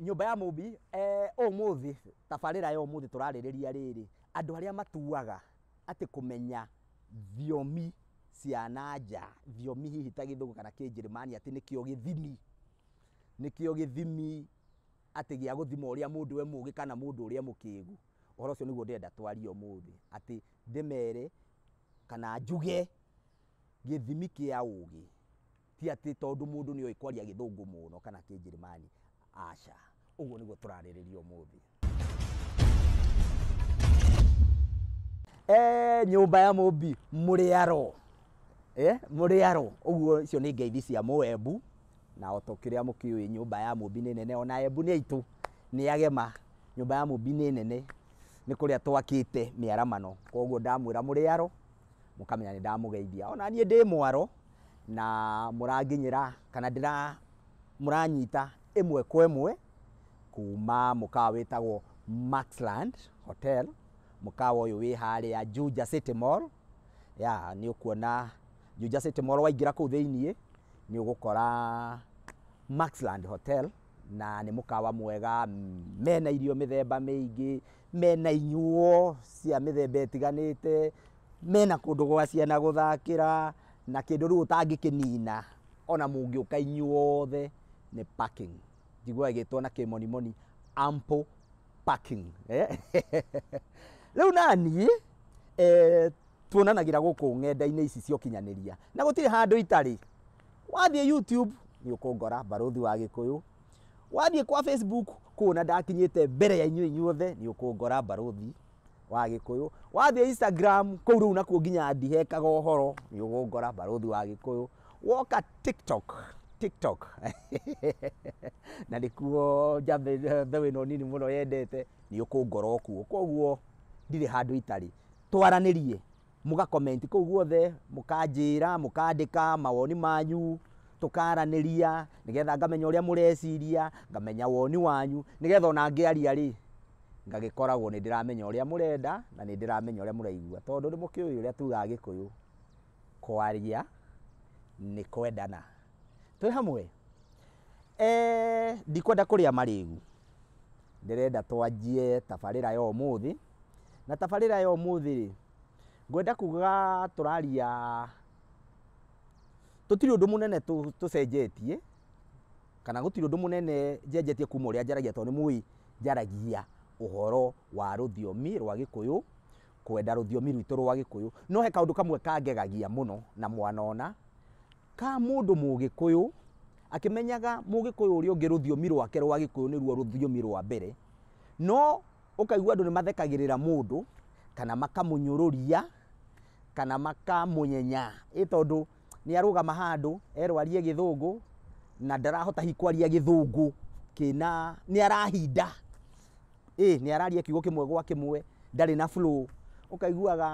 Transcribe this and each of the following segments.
nyũmba ya mũmbi eh, ũmũthĩ tabarĩra ya ũmũthĩ tũrarĩrĩria rĩrĩ andũ arĩa matuaga atĩ kũmenya thiomi cia na nja thiomi hihi ta gĩthũngũ kana kĩnjĩrĩmani atĩ nĩkĩo gĩthimi nĩkĩo gĩthimi atĩ gĩa gũthima ũrĩa mũndũ we mũgĩ kana mũndũ ũrĩa mũkĩgu ũhoro ũcio nĩguo ndĩrenda twarie ũmũthĩ atĩ ndĩmere kana njuge gĩthimi kĩa ũgĩ Ti atĩ tondũ mũndũ nĩ oĩ kwaria gĩthũngũ mũno kana kĩnjĩrĩmani, aca. Ũguo nĩguo tũrarĩrĩria ũmũthĩ. Eh, nyũmba ya mũmbi mũrĩaro eh, mũrĩaro ũguo icio nĩ ngeithi cia mũembu na o ta kĩrĩa mũkĩũĩ nyũmba ya mũmbi nĩ nene ona embu nĩ aitũ nĩ agema nyũmba ya mũmbi nĩ nene nĩ kũrĩa twakĩte mĩaramano koguo ndamwĩra mũrĩaro mũkamenya nĩ ndamũgeithia ona niĩ ndĩ mwaro na mũranginyĩra kana ndĩra mũranyita ĩmwe kwa ĩmwe kuma mũkawa wĩtagwo Maxland Hotel, mũkawa ũyũ wĩ harĩa Juja City Mall. Ya, nĩ ũkuona Juja City Mall waingĩra kũu thĩiniĩ nĩ ũgũkora Maxland Hotel na nĩ mũkawa mwega mena irio mĩthemba mĩingĩ, Mena inyuo cia mĩthemba ĩtiganĩte, mena kũndũ gwa ciana gũthakĩra, na kĩndũ rĩu ũtangĩkĩnina ona mũngĩũka inyuothe nĩ parking. Njiguaga ĩgĩtwo na kĩmonimoni ample parking. Rĩu naniĩ tuonanagĩra gũkũ ng'enda-inĩ ici cia ũkinyanĩria na gũtirĩ handũ itarĩ. Wathiĩ YouTube nĩ ũkũngora, Barũthi wa Gĩkũyũ, wathiĩ kwa facebook kuona ndakinyĩte mbere ya inyuĩ inyuothe nĩ ũkũngora mbarũthi wa gĩkũyũ wathiĩ instagram kũu rĩu nakuo nginya ndihekaga ũhoro nĩ ũgũngora mbarũthi wa gĩkũyũ woka tiktok tiktok na nĩkuo njambe mbeũ ĩno nini mũno yendete nĩ ũkũngora okuo koguo ndirĩ handũ itarĩ twaranĩrie Mũga comment kũu guothe, mũkanjĩra, mũkandĩka mawoni manyu, tũkaranĩria, nĩgetha ngamenya ũrĩa mũreciria, ngamenya woni wanyu, nĩgetha ona ngĩaria rĩ, ngagĩkoragwo nĩ ndĩramenya ũrĩa mũrenda, na nĩ ndĩramenya ũrĩa mũraigua. Tondũ nĩ mũkĩũĩ ũrĩa tugaga Gĩkũyũ, kwaria nĩ kwendana. Twĩ hamwe? Eeh ndikwenda kũrĩa marĩgu, ndĩrenda twanjie tabarĩra ya ũmũthĩ. Na tabarĩra ya ũmũthĩ rĩ, ngwenda kuga tũraria, tũtirĩ ũndũ mũnene tũcenjetie, kana gũtirĩ ũndũ mũnene njenjetie kuma ũrĩa njaragia tondũ nĩ mũĩ njaragia ũhoro wa rũthiomi rwa gĩkũyũ, kwenda rũthiomi rwitũ rwa gĩkũyũ. No he kaũndũ kamwe kangegagia mũno na mwanona. Ka mũndũ Mũgĩkũyũ, akĩmenyaga Mũgĩkũyũ ũrĩa ũngĩ rũthiomi rwake rwa Gĩkũyũ nĩruo rũthiomi rwa mbere, no ũkaigua andũ nĩ mathekagĩrĩra mũndũ, kana makamũnyũrũria, kana makamũnyenya, ĩ tondũ nĩ arũgama handũ erwo arie Gĩthũngũ, na ndarahota hihi kwaria Gĩthũngũ kĩna, nĩ arahinda. ĩĩ nĩ araria kiugo kĩmwe gwa kĩmwe, ndarĩ na flow. Ũkaiguaga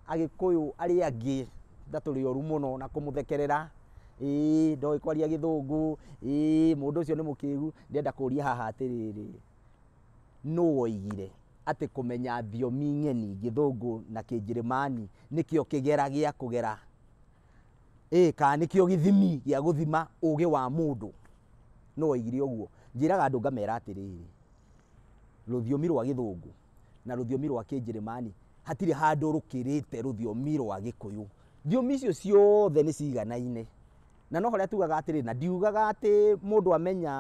Agĩkũyũ arĩa angĩ ta tũrĩ oru mũno na kũmũthekerera, ĩĩ ndoĩ kwaria Gĩthũngũ, ĩĩ mũndũ ũcio nĩ mũkĩgu. Ndĩrenda kũria haha atĩrĩrĩ, nũ woigire atĩ kũmenya thiomi ng'eni, Gĩthũngũ na Kĩnjĩrĩmani nĩkĩo kĩgera gĩa kũgera, ĩĩ kana nĩkĩo gĩthimi gĩa gũthima ũũgĩ wa mũndũ? Nũ woigire ũguo? Njĩraga andũ ngamera atĩrĩrĩ, rũthiomi rwa gĩthũngũ na rũthiomi rwa kĩnjĩrĩmani, hatirĩ handũ rũkĩrĩte rũthiomi rwa gĩkũyũ. Thiomi icio ciothe nĩ ciganaine. Na no harĩa tugaga atĩrĩ, na ndiugaga atĩ mũndũ amenya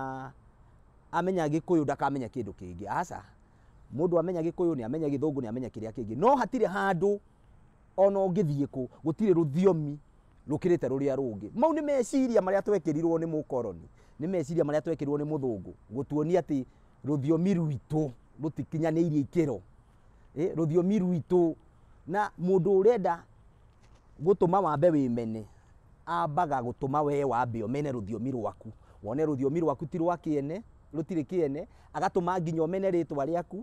amenya gĩkũyũ ndakamenya kĩndũ kĩngĩ, aca. Mũndũ amenya gĩkũyũ, nĩ amenya gĩthũngũ, nĩ amenya kĩrĩa kĩngĩ. No hatirĩ handũ ona ũngĩthiĩ kũ, gũtirĩ rũthiomi rũkĩrĩte rũrĩa rũngĩ. Mau nĩ meciria marĩa twekĩrirwo nĩ mũkoroni, nĩ meciria marĩa twekĩrirwo nĩ mũthũngũ gũtuonia atĩ rũthiomi rwitũ rũtikinyanĩirie ikĩro, ĩ, rũthiomi rwitũ. Na mũndũ ũrenda gũtũma wambe wĩmene, ambaga gũtũma wee wambe ũmene rũthiomi rwaku, wone rũthiomi rwaku ti rwa kĩene, rũtirĩ kĩene, agatũma nginya ũmene rĩtwa rĩaku.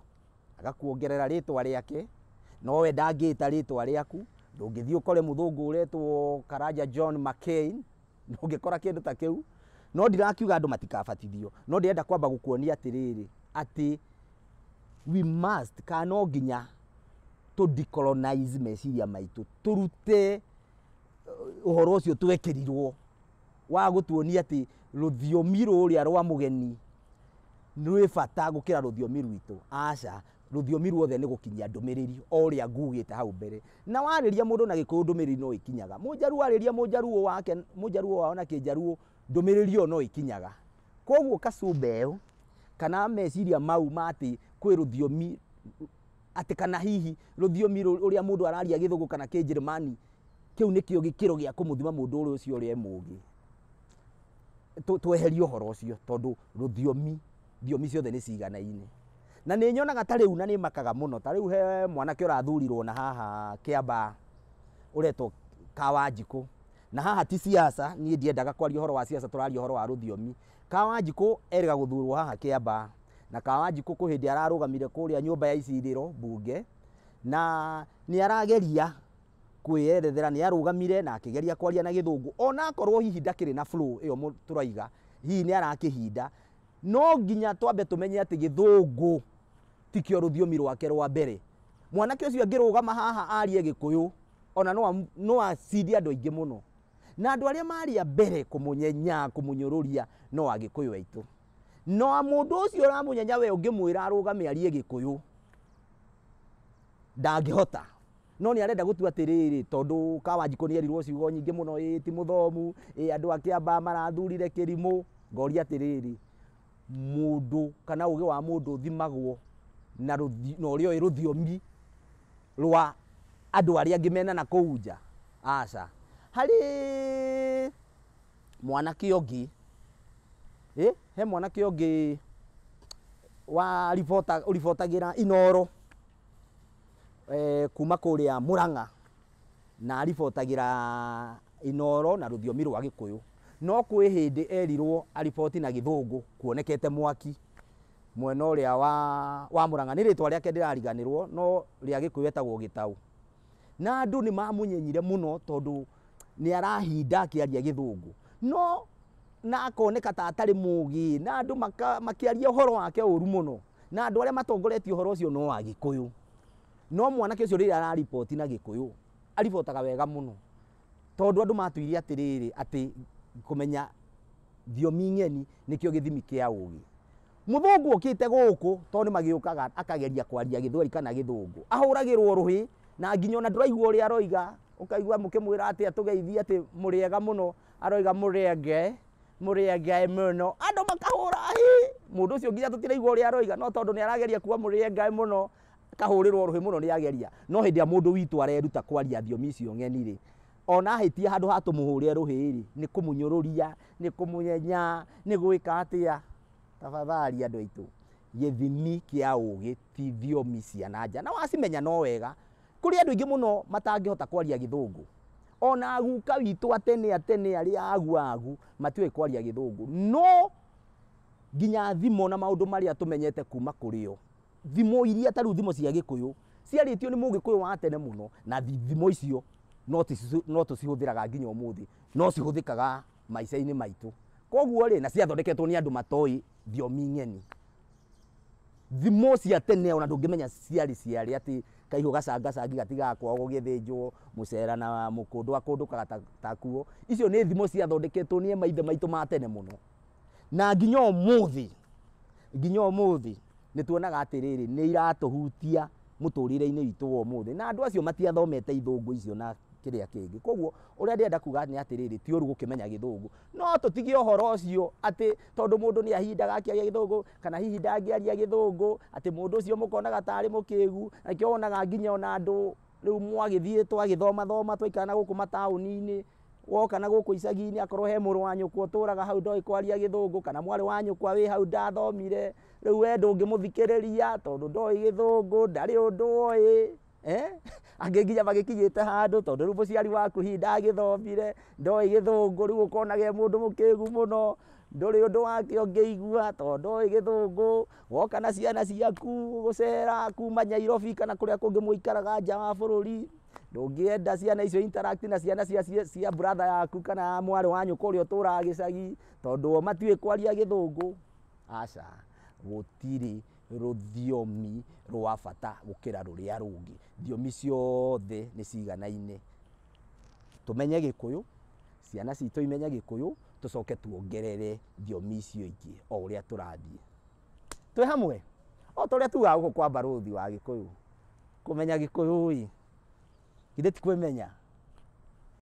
agakuongerera rĩtwa rĩake no we ndangĩta rĩtwa rĩaku ndũngĩthiĩ ũkore mũthũngũ ũretwo karanja john mccain ndũngĩkora kĩndũ ta kĩu no ndirakiuga andũ matikabatithio no ndĩrenda kwamba gũkuonia atĩrĩrĩ atĩ we must kana no nginya tũ decolonize meciria maitũ tũrute uh, ũhoro ũcio twekirirwo wa gũtuonia atĩ rũthiomi rũrĩa rwa mũgeni rwĩ bata gũkĩra rũthiomi rwitũ? Aca, rũthiomi ruothe nĩ gũkinyia ndũmĩrĩri o ũrĩa ngugĩte hau mbere. Na warĩria mũndũ na gĩkũyũ ndũmĩrĩri no ĩkinyaga. Mũjaruo arĩria mũjaruo wake, mũjaruo wao na kĩjaruo ndũmĩrĩri ĩyo no ĩkinyaga. Koguo kasumba ĩyo kana meciria mau ma atĩ kwĩ rũthiomi atĩ kana hihi rũthiomi rũrĩa mũndũ araria gĩthũngũ kana kĩnjĩrĩmani kĩu nĩkĩo gĩkĩro gĩa kũmũthima mũndũ ũrĩa ũcio ũrĩa e mũgĩ. tũ- tweherie ũhoro ũcio tondũ rũthiomi thiomi ciothe nĩ ciganaine na nĩ nyonaga ta rĩu na nĩ makaga mũno ta rĩu he mwanake ũrathurirwo na haha kĩambaa ũretwo kawanjikũ na haha ti siasa niĩ ndiendaga kwaria ũhoro wa siasa tũraria ũhoro wa rũthiomi kawanjikũ erĩga gũthurwo haha kĩambaa na kawanjikũ kwĩ hĩndĩ ararũgamire kũrĩa nyũmba ya icirĩro mbunge na nĩ arageria kwĩyerethera, nĩ arũgamire na akĩgeria kwaria na gĩthũngũ, ona akorwo hihi ndakĩrĩ na flow ĩyo tũraiga, hihi nĩ arakĩhinda, no nginya twambe tũmenye atĩ gĩthũngũ tikĩo rũthiomi rwake rwa mbere. Mwanake ũcio angĩrũgama haha arie gĩkũyũ, ona no acinde andũ aingĩ mũno. Na andũ arĩa marĩ a mbere kũmũnyenya, kũmũnyũrũria no agĩkũyũ aitũ. No mũndũ ũcio ũramũnyenya we ũngĩmwĩra arũgame arie gĩkũyũ, ndangĩhota. No nĩ arenda gũtua atĩrĩrĩ, tondũ Kawanjikũ nĩ erirwo ciugo nyingĩ mũno, ĩĩ ti mũthomu, ĩĩ andũ a Kĩambaa marathurire kĩrimũ, ngoria atĩrĩrĩ, mũndũ kana ũgĩ wa mũndũ ũthimagwo na ũrĩa ũĩ rũthiomi rwa andũ arĩa angĩ mena na kũu nja? Aca. Harĩ mwanake ũngĩ, he mwanake ũngĩ ũribotagĩra Inooro. Kuma kũrĩa Mũrang'a na aribotagĩra Inooro na rũthiomi rwa Gĩkũyũ. No kwĩ hĩndĩ erirwo ariboti na Gĩthũngũ kuonekete mwaki mwena ũrĩa wa Mũrang'a. Nĩ rĩtwa rĩake ndĩrariganĩrwo no rĩa Gĩkũyũ etagwo Gĩtaũ. Na andũ nĩ mamũnyenyire mũno tondũ nĩ arahinda akĩaria Gĩthũngũ. No na akoneka ta atarĩ mũgĩ na andũ makĩaria ũhoro wake ũru mũno. Na andũ arĩa matongoretie ũhoro ũcio no Agĩkũyũ. No mwanake ũcio rĩrĩa arariboti na Gĩkũyũ, aribotaga wega mũno. Tondũ andũ matwĩire atĩrĩrĩ, atĩ kũmenya thiomi ng'eni nĩkĩo gĩthimi kĩa ũgĩ. Mũthũngũ okĩte gũkũ, tondũ nĩmagĩũkaga akageria kwaria Gĩthweri kana Gĩthũngũ, ahũragĩrwo rũhĩ, na nginya ona ndũraigua ũrĩa aroiga, ũkaigua mũkĩmwĩra atĩa tũgeithie atĩ mũrĩega mũno, Aroiga mũrĩa ngĩ, mũrĩa ngĩ mũno. Andũ makahũra hi. Mũndũ ũcio nginya tũtiraigua ũrĩa aroiga no tondũ nĩ arageria kuga mũrĩa ngĩ mũno, akahũrĩrwo rũhĩ mũno nĩ ageria. No hĩndĩ ĩrĩa mũndũ witũ areruta kwaria thiomi icio ng'eni rĩ, ona ahĩtia handũ ha tũmũhũre rũhĩ rĩ, nĩ kũmũnyũrũria, nĩ kũmũnyenya, nĩ gwĩka atĩa? Tafadhali andũ aitũ, gĩthimi kĩa ũgĩ. ti thiomi cia na nja na wacimenya no wega. Kũrĩ andũ aingĩ mũno matangĩhota kwaria gĩthũngũ. Ona aguka witũ a tene a tene arĩa agu agu matiũĩ kwaria gĩthũngũ. No nginya thimo na maũndũ marĩa tũmenyete kuma kũrĩ o. Thimo iria ta rĩu thimo cia gĩkũyũ ciarĩtio nĩ mũgĩkũyũ wa tene mũno na thimo icio no tũci- no tũcihũthĩraga nginya ũmũthĩ. No cihũthĩkaga maica-inĩ maitũ. Koguo rĩ, na ciathondeketwo nĩ andũ matoĩ thiomi ng'eni. thimo cia tene ona ndũngĩmenya ciarĩ ciarĩ atĩ kaihũ gacangacangi gatigakwao gũgĩthĩnjwo mũcera na mũkũndũ akũndũkaga ta- takuo icio nĩ thimo ciathondeketwo nĩ maithe maitũ ma tene mũno na nginya ũmũthĩ nginya ũmũthĩ nĩ tuonaga atĩrĩrĩ nĩ iratũhutia mũtũrĩre-inĩ witũ wa ũmũthĩ na andũ acio matiathomete ithũngũ icio na kĩrĩa kĩngĩ koguo ũrĩa ndĩrenda kuga nĩ atĩrĩrĩ ti ũru gũkĩmenya gĩthũngũ no tũtige ũhoro ũcio atĩ tondũ mũndũ nĩ ahindaga akĩaria gĩthũngũ kana hihi ndangĩaria gĩthũngũ atĩ mũndũ ũcio mũkonaga tarĩ mũkĩgu na kĩo wonaga nginya ona andũ rĩu mwagĩthiĩ twagĩthoma thoma twaikara na gũkũ mataũni-inĩ woka na gũkũ icagi-inĩ akorwo he mũrũ wa nyũkwa ũtũraga hau ndoĩ kwaria gĩthũngũ kana mwarĩ wa nyũkwa wĩ hau ndathomire rĩu we ndũngĩmũthikĩrĩria tondũ ndoĩ gĩthũngũ ndarĩ ũndũ oĩ Angĩ nginya magĩkinyĩte handũ tondũ rĩu mũciari waku hihi ndagĩthomire, ndoĩ gĩthũngũ rĩu ũkonaga e mũndũ mũkĩgu mũno, ndũrĩ ũndũ wake ũngĩigua tondũ ndoĩ gĩthũngũ, woka na ciana ciaku gũcera kuma Nyairobi kana kũrĩa kũngĩ mũikaraga nja wa bũrũri, ndũngĩenda ciana icio i interact na ciana cia brother yaku kana mwarĩ wa nyũkwa ũrĩa ũtũraga gĩcagi tondũ o matiũĩ kwaria gĩthũngũ, aca gũtirĩ. rũthiomi rwa bata gũkĩra rũrĩa rũngĩ. Thiomi ciothe nĩ ciganaine. Tũmenye Gĩkũyũ, ciana citũ imenye Gĩkũyũ, tũcoke tuongerere thiomi icio ingĩ o ũrĩa tũrathiĩ. Twĩ hamwe? O ta ũrĩa tugaga gũkũ kwa mbarũthi wa Gĩkũyũ, kũmenya Gĩkũyũ-ĩ, githĩ ti kwĩmenya?